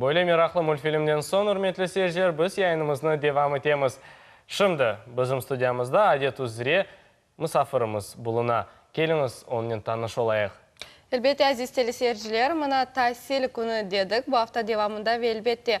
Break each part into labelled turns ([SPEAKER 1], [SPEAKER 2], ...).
[SPEAKER 1] Böyle meraqlı multfilmden soñ, ürmetli seyirciler, biz yayınımıznı devam etemiz. Şimdi bizim studiyamızda, adet üzre, musafirimiz buluna. Keliñiz, onnen tanış olayıq. Elbette, aziz
[SPEAKER 2] teleseyirciler, mına Tasil künü dedik. Bu afta devamında ve, elbette,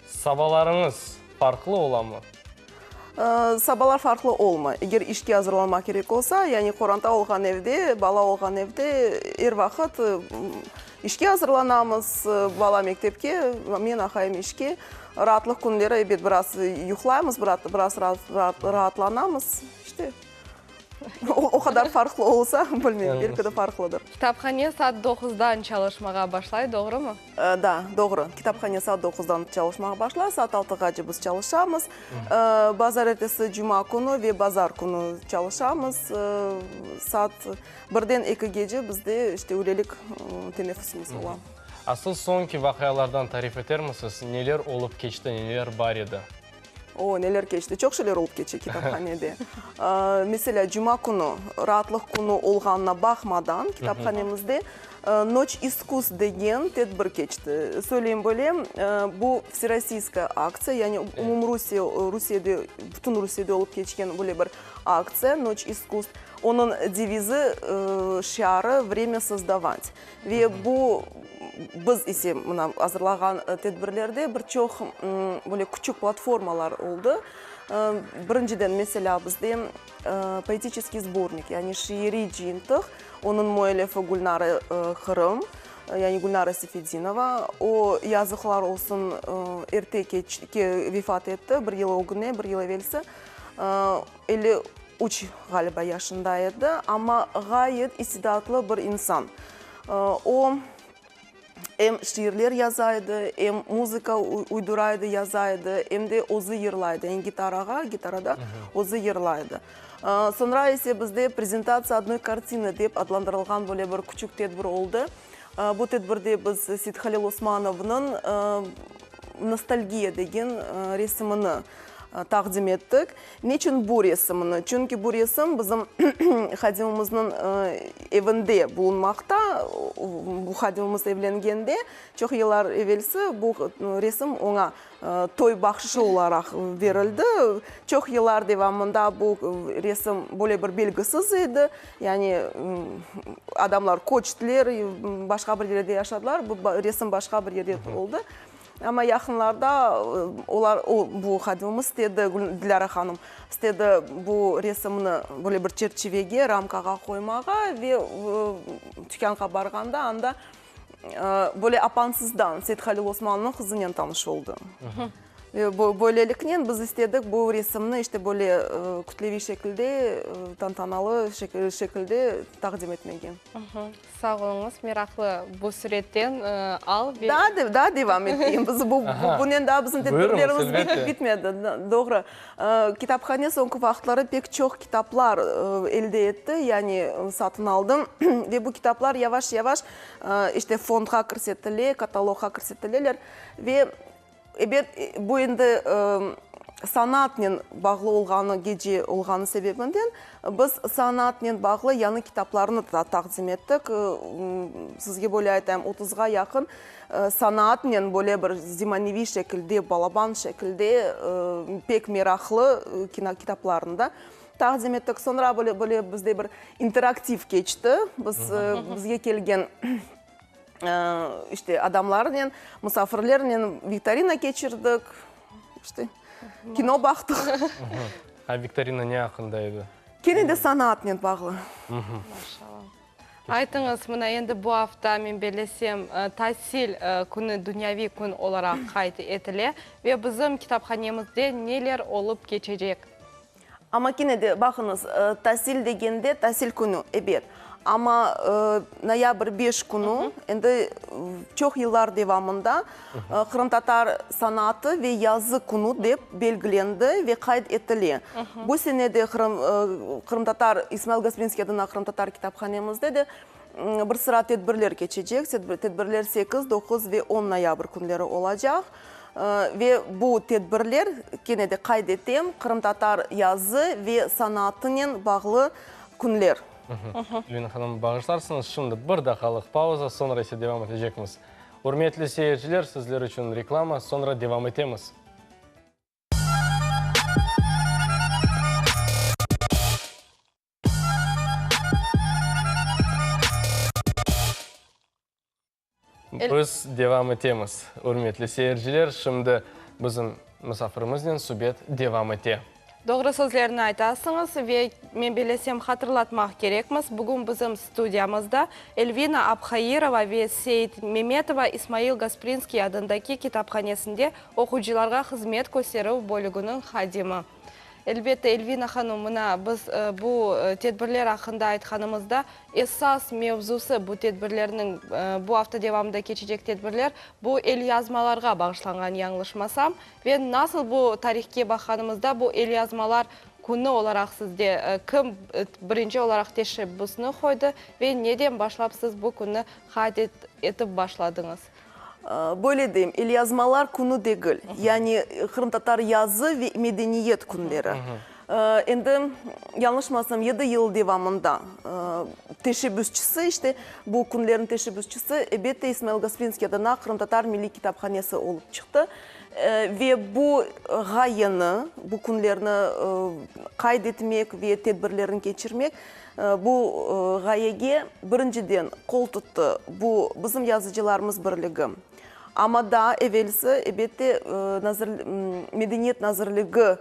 [SPEAKER 1] Sabalarıñız farqlı olamı?
[SPEAKER 3] Sabalar farqlı olmay. Eger işke azırlanmaq kerek olsa, yani qoranta olğan evde, bala olğan evde er vaqıt işke azırlanamız, bala mektepke, men aqayım işke. Raatlıq künleri, ebet, biraz yuqlaymız, biraz raatlanamız, işte. O qadar farqlı olsa, bilmeyim, belki de farqlıdır. Kitaphane saat
[SPEAKER 2] doquzdan çalışmağa başlay, doğrumı? Da, doğru.
[SPEAKER 3] Kitaphane saat doquzdan çalışmağa başlay, saat altıgace biz çalışamız. Bazar ertesi, cuma künü ve bazar künü çalışamız. Saat birden ekigece bizde işte ülelik teneffüsimiz ola. Asıl soñki
[SPEAKER 1] vaqialardan tarif etermisiz? Neler olıp keçti, neler bar edi? Oo, neler
[SPEAKER 3] keçti. Çoq şeyler olıp keçe kitaphanede. Meselâ, cuma künü, raatlıq künü olğanına baqmadan, kitaphanemizde Noç iskus degen tedbir keçti. Söyleyim böyle, bu vserossiyskoye aktsiya, yani umumrusiye, Rusiyede, bütün Rusiyede olıp keçken böyle bir aktsiya, Noç iskus. Onıñ devizi, şiarı, Vremya sozdovat. Ve bu, biz ise mına azırlağan tedbirlerde bir çoq böyle küçük platformalar oldı. Birinciden, meselâ, bizde poetiçeskiy sbornik, yani şiiriy cıyıntıq, onıñ müellifi Gülnara Qırım, yani Gülnara Sefedinova. O, yazıqlar olsun, erte vefat etti, bir yıl ögüne, bir yıl evelsi. Elli üç ğaliba yaşında edi, amma ğayet istidatlı bir insan. O, em şiirler yaza edi, em muzıka uydura edi, yaza edi, em de özü yırlay edi, yañı gitarağa, gitarada özü yırlay edi. Soñra ise bizde Prezentatsiya odnöy kartini dep adlandırılğan böyle bir küçük tedbir oldı. Bu tedbirde biz Seit Halil Osmanovnıñ Nostalgiya degen resimini taqdim ettik. Neçün bu resimni? Çünki bu resim bizim hadimimizniñ evinde bulunmaqta. Bu hadimimiz evlengende, çoq yıllar evelsi bu resim oña toy bahşışı olaraq berildi. Çoq yıllar devamında bu resim böyle bir belgisiz edi. Yani adamlar köçtiler, başqa bir yerde yaşadılar, bu resim başqa bir yerde oldı. Amma yaqınlarda olar, o, bu hadimimiz istedi, Dilâra hanım istedi bu resimni böyle bir çerçivege, ramkağa qoymağa ve tükânğa barğanda anda böyle apansızdan Seythalil Osmanlınıñ qızınen tanış oldı. Böyleliknen biz istedik bu resimni işte böyle kütleviy şekilde, tantanalı şekilde taqdim etmege. Sağ
[SPEAKER 2] oluñız, meraqlı bu suretten al ve. Daa, daa devam
[SPEAKER 3] eteyim, biz bu, bunen daa bizim tedbirlerimiz bitip bitmedi, doğru. Kitaphane soñki vaqıtları pek çoq kitaplar elde etti, yani satın aldı ve bu kitaplar yavaş-yavaş işte fondğa kirsetile, katalogğa kirsetile ve. Ebet, bu endi sanatnen bağlı olğanı, gece olğanı sebebinden biz sanatnen bağlı yañı kitaplarnı da taqdim ettik. Sizge böyle aytayım, otuzğa yaqın sanatnen böyle bir zemaneviy şekilde, balaban şekilde pek meraqlı kitaplarnı da taqdim ettik. Soñra böyle bizde bir interaktiv keçti. Biz, bizge kelgen İşte, adamlarnen, musafirlernen viktorina keçirdik, işte, kino baqtıq. A
[SPEAKER 1] viktorina ne aqqında edi? Kene de
[SPEAKER 3] sanatnen bağlı.
[SPEAKER 2] Aytıñız, mına endi bu afta, men bellesem, tasil künü, dünyaviy kün olaraq qayd etile. Ve bizim kitaphanemizde neler olıp keçecek?
[SPEAKER 3] Amma kene de, baqıñız,
[SPEAKER 2] tasil
[SPEAKER 3] degende, tasil künü, ebet. Amma noyabr beş künü, endi çoq yıllar devamında qırımtatar sanaatı ve yazı künü dep belgilendi ve qayd etile. Bu sene de qırımtatar, İsmail Gasprinskiy adına qırımtatar kitaphanemizde de bir sıra tedbirler keçecek. Tedbirler sekiz, doquz ve on noyabr künleri olacaq. Ve bu tedbirler, kene de qayd etem, qırımtatar yazı ve sanaatınen bağlı künler. Lüyna
[SPEAKER 1] hanım, bağışlarsıñız, şimdi bir daqalıq pauza, soñra ise devam etecekmiz. Ürmetli seyirciler, sizler içün reklama, soñra devam etemiz. Biz devam etemiz. Ürmetli seyirciler, şimdi bizim musafirimiznen subet devam ete. Doğru sözlerni
[SPEAKER 2] aytasıñız ve men belesem hatırlatmaq kerekmiz, bugün bizim studiyamızda Elvina Abhairova ve Seit Memetova İsmail Gasprinskiy adındaki kitaphanesinde oquyıcılarğa hızmet kösterüv bölüginiñ hadimi. Elbette, Elvina hanım, mına, biz bu tedbirler aqqında aytqanımızda, esas mevzusı bu tedbirlerniñ, bu afta devamında keçecek tedbirler, bu elyazmalarğa bağışlanğan, yañlışmasam, ve nasıl bu tarihke baqanımızda, bu elyazmalar künü olaraq sizde kim birinci olaraq teşebbüsni qoydı ve neden başlap siz bu künni qayd etip başladıñız? Böyle
[SPEAKER 3] deyim, elyazmalar künü degil, yani qırımtatar yazı ve medeniyet künleri. Endi, yañlışmasam, yedi yıl devamında teşebbüsçisi, işte bu künlerniñ teşebbüsçisi, elbette, İsmail Gasprinskiy adına Qırımtatar Milliy Kitaphanesi olıp çıqtı. Ve bu ğayeni, bu künlerni qayd etmek ve tedbirlerini keçirmek Bu ğayege, birinciden, qol tuttı bu bizim yazıcılarımız birligi. Amma daa evelsi, ebette, Medeniyet nazirligi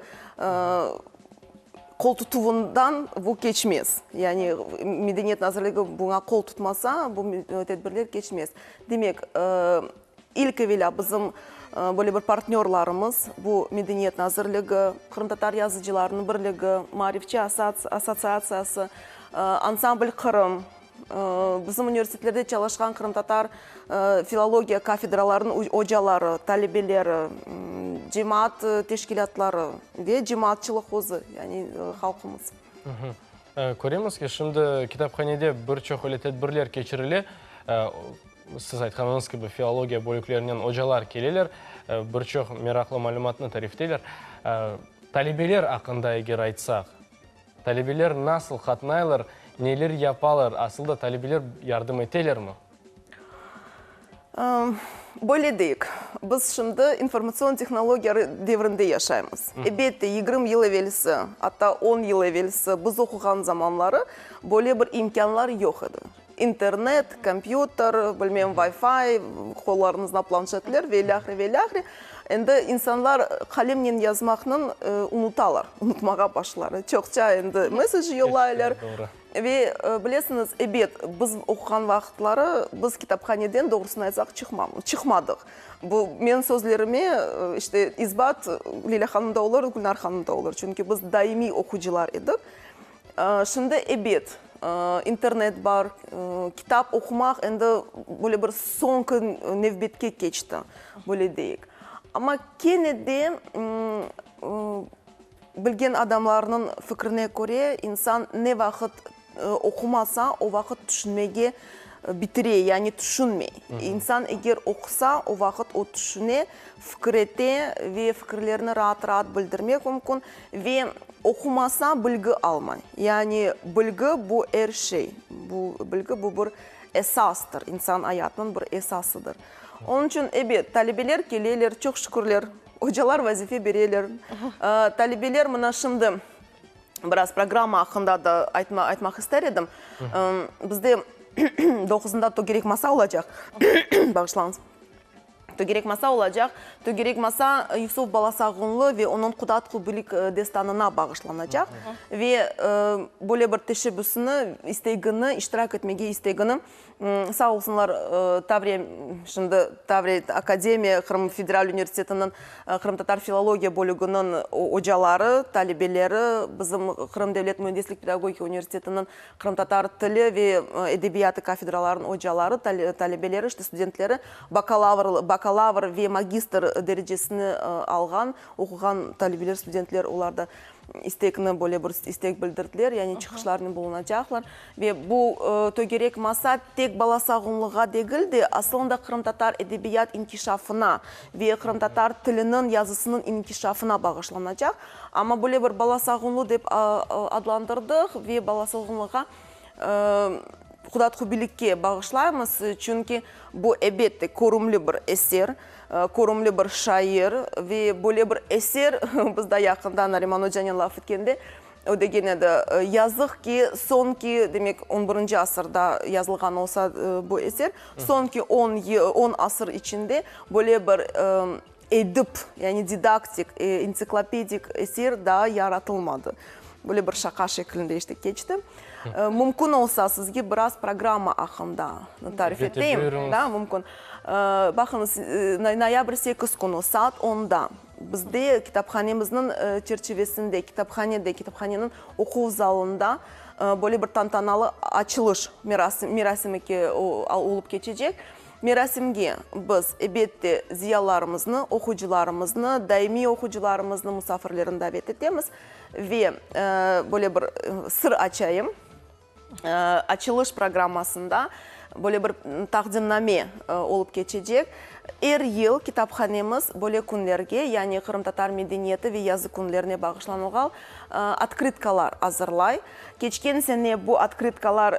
[SPEAKER 3] qoltutuvından bu keçmez. Yani Medeniyet nazirligi buña qol tutmasa, bu tedbirler keçmez. Demek. İlk evelâ bizim böyle bir partnörlarımız, bu Medeniyet nazirligi, Qırımtatar yazıcılarınıñ birligi, Maarifçi assotsiatsiyası, Ansambl Qırım, bizim universitetlerde çalışqan qırımtatar filologiya kafedralarınıñ ocaları, talebeleri, cemaat teşkilâtları ve cemaatçılıq özü, yani halqımız.
[SPEAKER 1] Köremiz ki, şimdi kitaphanede bir çoq öyle tedbirler keçirile. Siz aytqanıñız kibi, filologiya bölüklerinen ocalar keleler, bir çoq meraqlı malümatnı tarifleyler. Talebeler aqqında eger aytsaq, talebeler nasıl qatnaylar, neler yapalar, asıl da talebeler yardım etelermi?
[SPEAKER 3] Böyle deyik, biz şimdi informatsion tehnologiya devrinde yaşaymız. Elbette, yigirmi yıl evelsi, atta on yıl evelsi biz oquğan zamanları böyle bir imkânlar yoq edi. İnternet, kompyuter, bilmem, Wi-Fi, qollarımızda planşetler ve ilâhre, ve ilâhre. Endi insanlar qalemnen yazmaqnıñ unutalar, unutmağa başlalar. Çoqça endi mesej yollaylar. Ve bilesiñiz, ebet, biz oquğan vaqıtları biz kitaphaneden, doğrusını aytsaq, çıqmamız, çıqmadıq. Bu menim sözlerime işte isbat Leyla hanım da olur, Gülnar hanım da olur. Çünki biz daimiy oqucılar edik. Şimdi, ebet, internet bar, kitap oqumaq endi böyle bir soñki nevbetke keçti, böyle deyik. Amma kene de bilgen adamlarnıñ fikrine köre, insan ne vaqıt oqumasa, o vaqıt tüşünmege bitire, yani tüşünmey. İnsan eger oqusa, o vaqıt o tüşüne. fikir ete ve fikirlerini raat-raat bildirmek mümkün ve oqumasa bilgi almay. Yani bilgi bu er şey, bu bilgi bu bir esastır, insan ayatınıñ bir esasıdır. Onıñ içün, ebet, talebeler keleler, çoq şükürler, ocalar vazife bereler. Talebeler mına şimdi biraz programma aqqında da aytma aytmaq ister edim. Bizde doquzında togerek masa olacaq, bağışlañız. Tögerekmasa olacaq, Tögerekmasa Yusuf Balasağunlı ve onıñ Qudat Qubilik destanına bağışlanacaq ve böyle bir teşebbüsni, istegini, iştirak etmege istegini, sağ olsunlar, Tavriya, şimdi Tavriya akademiya, Qırım Federal Universitetiniñ qırımtatar filologiya bölüginiñ ocaları, talebeleri, bizim Qırım Devlet Müendislik pedagogika universitetiniñ qırımtatar tili ve edebiyatı kafedralarınıñ ocaları, talebeleri, işte studentleri, Bakalavr, bakalavr ve magistr derecesini alğan, oquğan talebeler, studentler olar da istekni, böyle bir istek bildirdiler, yani çıqışlarnen bulunacaqlar. Ve bu tögerek masa tek bala sağumluğa degil de, asılında qırımtatar edebiyat inkişafına ve qırımtatar tiliniñ, yazısınıñ inkişafına bağışlanacaq. Amma böyle bir bala sağumlu dep adlandırdıq ve bala sağumluğa Qudatqubilikke bağışlaymız, çünki bu, ebette, körümli bir eser, körümli bir şair ve böyle bir eser, biz da yaqında Nariman ocanen laf etkende o degen edi, yazıq ki, soñki, demek, on birinci asırda yazılğan olsa bu eser, soñki on asır içinde böyle bir Edip, yani didaktik, ensiklopedik eser daa yaratılmadı. Böyle bir şaqa şeklinde işte keçti. Mümkün olsa, sizge biraz programma aqqında tarif eteyim. Ete, buyurıñız. Da, mümkün. Baqıñız, noyabr sekiz künü saat onda bizde kitaphanemizniñ çerçivesinde, kitaphanede, kitaphaneniñ oquv zalında böyle bir tantanalı açılış merasimi olıp keçecek. Merasimge biz, ebette, ziyalılarımıznı, oquyıcılarımıznı, daimiy oquyıcılarımıznı, musafirlerini davet etemiz. Ve böyle bir sır açayım, açılış programmasında böyle bir taqdimname olıp keçecek. Er yıl kitaphanemiz böyle künlerge, yani qırımtatar medeniyeti ve yazı künlerine bağışlanılğan otkritkalar azırlay. Keçken sene bu otkrytkalar,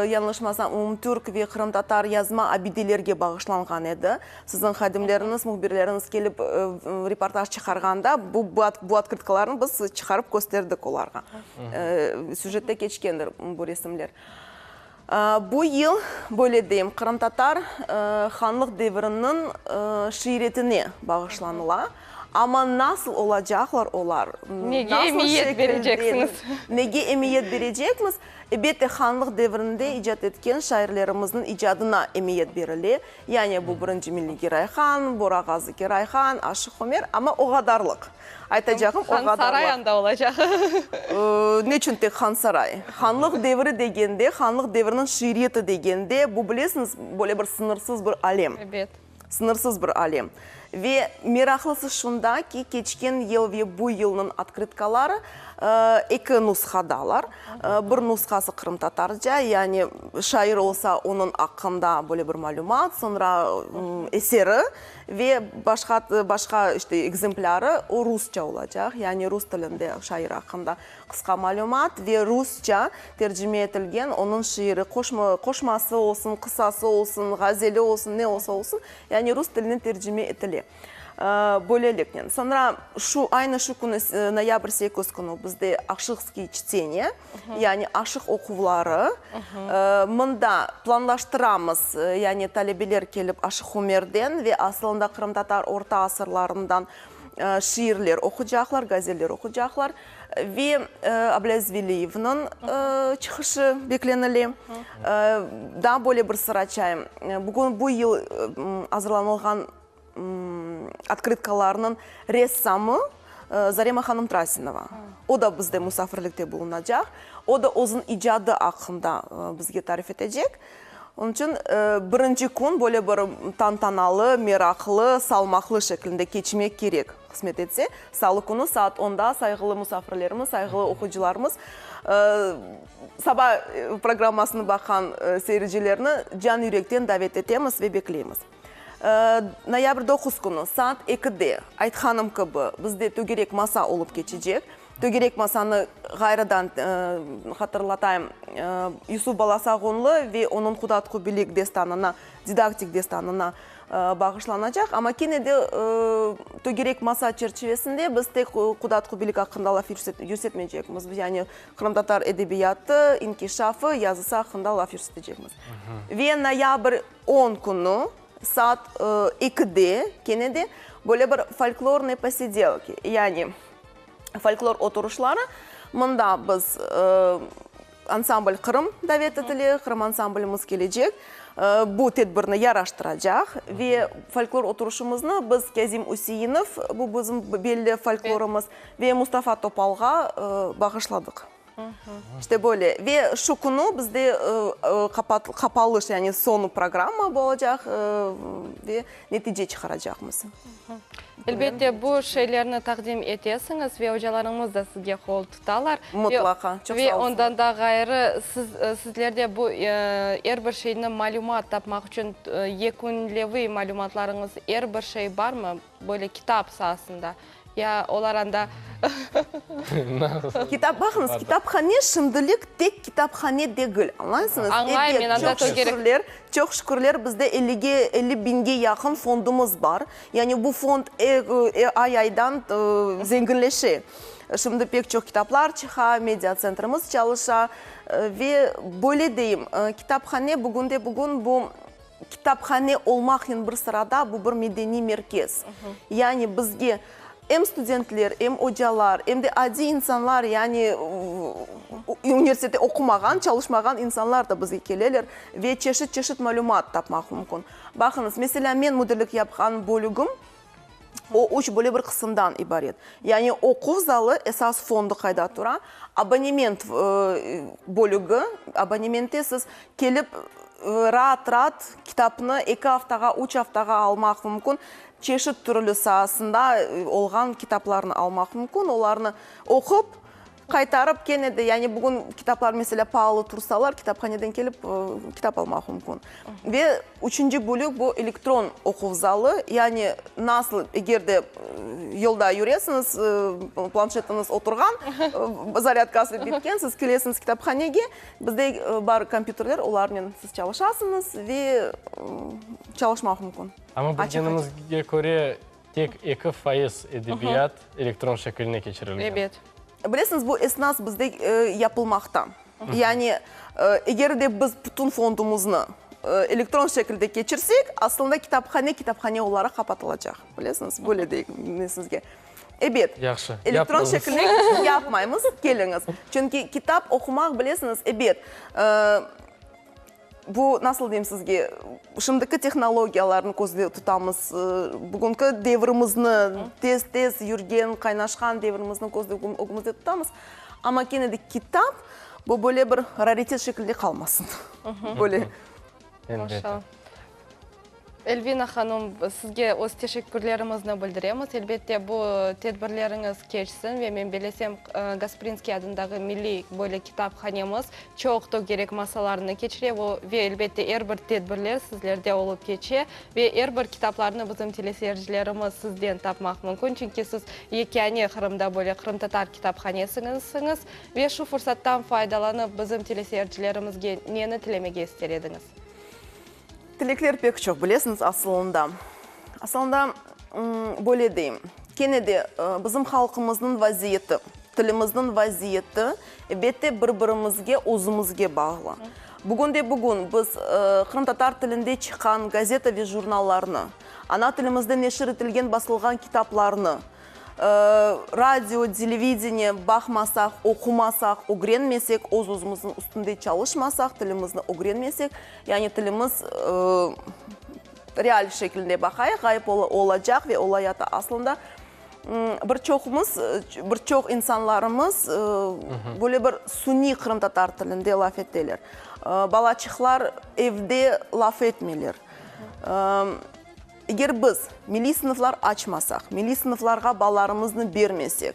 [SPEAKER 3] yañlışmasam, umumtürk ve qırımtatar yazma abidelerge bağışlanğan edi. Siziñ hadimleriñiz, mühbirleriñiz kelip reportaj çıqarğanda bu bu otkrytkalarnı biz çıqarıp kösterdik olarğa. Süjette keçkendir bu resimler. Bu yıl, böyle deyim, qırımtatar hanlıq deviriniñ şiiretine bağışlanıla. Amma nasıl olacaqlar olar, nege emiyet
[SPEAKER 2] bereceksiñiz? Nege emiyet
[SPEAKER 3] berecekmiz? Elbette, hanlıq devirinde icat etken şairlerimizniñ icadına emiyet berile. Yani bu birinci milliy giroy Han, Borağazı giroy Han, Aşıq Ömer, amma o qadarlıq. Aytacağım, o qadarlıq. Hansaray anda olacaq. Ne içün tek Hansaray? Hanlıq devri degende, Hanlıq devriniñ şiiriyeti degende, bu, bilesiñiz, böyle bir sıñırsız bir alem. Ebet. Sıñırsız
[SPEAKER 2] bir
[SPEAKER 3] alem. Ve meraqlısı şunda ki, keçken yıl ve bu yılnıñ otkrıtkaları eki nusqadalar. Bir nusqası qırımtatarca, yani şair olsa, onıñ aqqında böyle bir malümat, soñra eseri ve başqa, başqa işte ekzemplârı o rusça olacaq, yani rus tilinde şair aqqında qısqa malümat ve rusça tercime etilgen onıñ şiiri, qoşma, qoşması olsun, qısası olsun, ğazeli olsun, ne olsa olsun, Yani rus tiline tercime etile. Böyleliknen, soñra şu, aynı şu künü, noyabr sekiz künü bizde Aşıkskiy çteniye, yani Aşıq oquvları. Mında planlaştıramız, yani talebeler kelip Aşıq Ömerden ve asılında qırımtatar orta asırlarından şiirler oqucaqlar, gazeller oqucaqlar. Ve Abla Zveliyevniñ çıqışı beklenile. Daa böyle bir sır açayım, bugün bu yıl azırlanılğan otkıtkalarnıñ ressamı Zarema hanım Trasinova. O da bizde musafirlikte bulunacaq. O da özüniñ icadı aqqında bizge tarif etecek. Onıñ içün birinci kün böyle bir tantanalı, meraqlı, salmaqlı şeklinde keçmek kerek. Qısmet etse, salı künü saat onda sayğılı musafirlerimiz, sayğılı oquyıcılarımız, Saba programmasını baqan seyircilerni can-yürekten davet etemiz ve bekleymiz. Noyabr doquz künü saat ekide, aytqanım kibi, bizde tögerek masa olıp keçecek. Tögerek masanı ğayrıdan hatırlatayım, Yusuf balası Ağunlı ve onıñ Qudat Qubilik destanına, didaktik destanına bağışlanacaq. Amma kene de tögerek masa çerçivesinde biz tek Qudat Qubilik aqqında laf yürsetmeycekmiz. Yani qırımtatar edebiyatı, inkişafı, yazısı aqqında laf yürsetecekmiz. Ve noyabr on künü saat ekide kene de böyle bir folklornıy posidelki, yani Folklor oturışları, mında biz ansambl Qırım davet etile, Qırım ansamblimiz kelecek, bu tedbirni yaraştıracaq ve folklor oturışımıznı biz Kâzim Üseinov, bu bizim belli folklorımız, ve Mustafa Topalğa bağışladıq. İşte böyle. Ve şu künü bizde qapalış, yani soñu programma bolacaq ve netice çıqaracaqmız.
[SPEAKER 2] Elbette, bu şeylerni taqdim etesiñiz ve ocalarıñız da sizge qol tutalar. Mutlaqa. Çoq sağ olsunlar. Ve
[SPEAKER 3] ondan da ğayrı,
[SPEAKER 2] sizlerde bu er bir şeyni malümat tapmaq içün yekünleviy malümatlarıñız, er bir şey barmı? Böyle kitap saasında ya olar anda.
[SPEAKER 3] Kitap, baqıñız, kitaphane şimdilik tek kitaphane degil, añlaysıñız? Añlayım men, anda çok
[SPEAKER 2] şükürler,
[SPEAKER 3] çoq şükürler bizde ellige, elli biñge yaqın fondumız bar. Yani bu fond ay-aydan zenginleşe. Şimdi pek çoq kitaplar çıqa, media tsentrimiz çalışa ve böyle deyim, kitaphane bugünde-bugün bu Kitaphane olmaqnen bir sırada bu bir medeniy merkez. Yani bizge em studentler, em ocalar, em de adiy insanlar, yani universitette oqumağan, çalışmağan insanlar da bizge keleler ve çeşit-çeşit malümat tapmaq mümkün. Baqıñız, meselâ, men müdirlik yapqan bölügim, O üç böyle bir qısımdan ibaret. Yani oquv zalı esas fondu qayda tura, abonement bölügi, abonementte siz kelip raat raat kitapnı eki aftağa, üç aftağa almaq mümkün, çeşit türlü saasında olğan kitaplarnı almaq mümkün, olarnı oqup, Qaytarıp kene de, yani bugün kitaplar mesela paalı tursalar, kitaphaneden kelip kitap almaq mümkün. Ve üçünci bölük bu elektron oquv zalı, yani nasıl, eger de yolda yüresiñiz, planşetiñiz oturğan, zaryadkası bitken, siz kelesiñiz kitaphanege, bizde bar kompyuterler, olarnen siz çalışasıñız ve çalışmaq mümkün. Amma bilgenimizge
[SPEAKER 1] köre, Tek eki fayız edebiyat elektron şekiline keçirilgen. Ebet. Bilesiñiz,
[SPEAKER 2] bu
[SPEAKER 3] esnas bizde yapılmaqta. Yani, eger de biz bütün fondumuznı elektron şekilde keçirsek, aslında kitaphane, kitaphane olaraq qapatılacaq. Bilesiñiz, böyle deyik men sizge. Ebet. Yahşı, yapmaymiz. Elektron
[SPEAKER 1] şekilde
[SPEAKER 3] yapmaymiz, keliñiz. Çünki kitap oqumaq, bilesiñiz, ebet, Bu, nasıl deyim sizge, şimdiki tehnologiyalarnı közde tutamız, bugünki devrimizni, tez-tez yürgen, qaynaşqan devrimizni közde, ögümizde tutamız, amma kene de kitap, bu böyle bir raritet şekilde qalmasın, böyle. Elbette.
[SPEAKER 2] Elvina hanım, sizge öz teşekkürlerimizni bildiremiz. Elbette, bu tedbirleriñiz keçsin ve men belesem, Gasprinskiy adındağı milliy böyle kitaphanemiz çoq tögerek masalarını keçire ve, elbette, er bir tedbirler sizlerde olıp keçe ve er bir kitaplarnı bizim teleseyircilerimiz sizden tapmaq mümkün, çünki siz yekâne Qırımda böyle qırımtatar kitaphanesisiñiz. Ve şu fursattan faydalanıp, bizim teleseyircilerimizge neni tilemege ister ediñiz?
[SPEAKER 3] Tilekler pek çoq, bilesiñiz, asılında, asılında, böyle deyim, kene de bizim halqımıznıñ vaziyeti, tilimizniñ vaziyeti, ebette, bir-birimizge, özümizge bağlı. Bugün de bugün biz qırımtatar tilinde çıqqan gazeta ve jurnallarnı, ana tilimizde neşir etilgen, basılğan kitaplarnı, Radio, televideniye baqmasaq, oqumasaq, ögrenmesek, öz-özümizniñ üstünde çalışmasaq, tilimizni ögrenmesek, yani tilimiz real şekilde baqayıq, ğayıp olacaq ve olayata. Aslında bir çoqumız, bir çoq insanlarımız böyle bir suniy qırımtatar tilinde laf eteler. Balaçıqlar evde laf etmeyler. Eger biz milliy sınıflar açmasaq, milliy sınıflarğa balalarımıznı bermesek,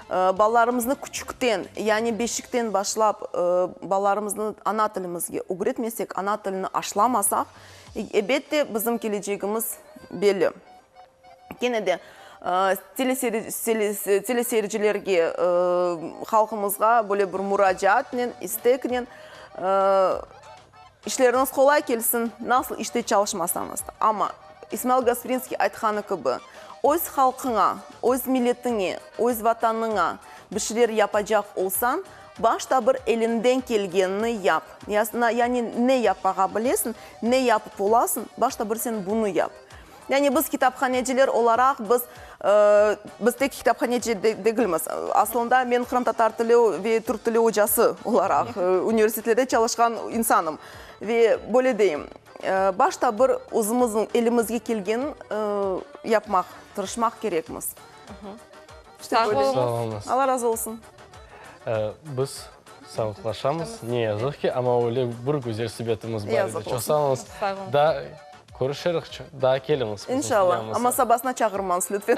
[SPEAKER 3] balalarımıznı küçükten, yani beşikten başlap balalarımıznı ana tilimizge ögretmesek, ana tilini aşlamasaq, ebet de bizim kelecegimiz belli. Kene de teleseyircilerge, halqımızğa böyle bir muracaatnen, isteknen, İşleriñiz qolay kelsin, nasıl işte çalışmasañız da. Amma, İsmail Gasprinskiy aytqanı kibi, öz halqıña, öz milletiñe, öz Vatanıña bir şeyler yapacaq olsañ, başta bir eliñden kelgenini yap. Yani ne yapmağa bilesiñ, ne yapıp olasıñ, başta bir sen bunı yap. Yani biz kitaphaneciler olaraq biz, biz tek kitaphaneci degilmiz. Aslında men qırımtatar tili ve türk tili ocası olaraq universitetlerde çalışqan insanım. Ve böyle deyim, başta bir özümizniñ elimizge kelgenin yapmaq, tırışmaq kerekmiz.
[SPEAKER 2] Sağ olunız. Alla razı
[SPEAKER 1] olsun. Biz sağlıqlaşamız, ne yazıq ki, amma öyle bir güzel subetimiz bar edi. Çoq sağ olunız.
[SPEAKER 3] Sağ
[SPEAKER 1] olun.
[SPEAKER 2] Körüşerik
[SPEAKER 1] çı, daa keliñiz. İnşalla, amma
[SPEAKER 3] sabasına çağırmañız, lütfen.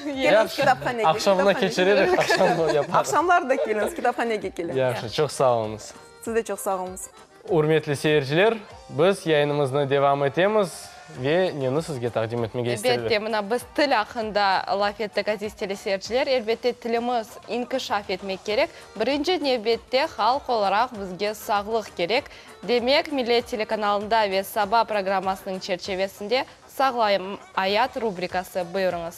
[SPEAKER 3] Keliñiz kitaphanege. Yahşı, aqşamına keçiririk,
[SPEAKER 1] aqşam da yaparıq. Aqşamlar da keliñiz,
[SPEAKER 3] kitaphanege keliñiz. Yahşı, çoq sağ oluñız.
[SPEAKER 1] Siz de çoq sağ oluñız.
[SPEAKER 3] Ürmetli
[SPEAKER 1] seyirciler, biz yayınımıznı devam etemiz ve neni sizge taqdim etmege isterler? Elbette, mına biz
[SPEAKER 2] til
[SPEAKER 1] aqqında
[SPEAKER 2] laf ettik, aziz teleseyirciler. Elbette, tilimiz inkişaf etmek kerek. Birinci nevbette, halq olaraq bizge sağlıq kerek. Demek, Millet telekanalında ve Saba programmasınıñ çerçevesinde Sağlayım, ayat rubrikası. Buyurıñız.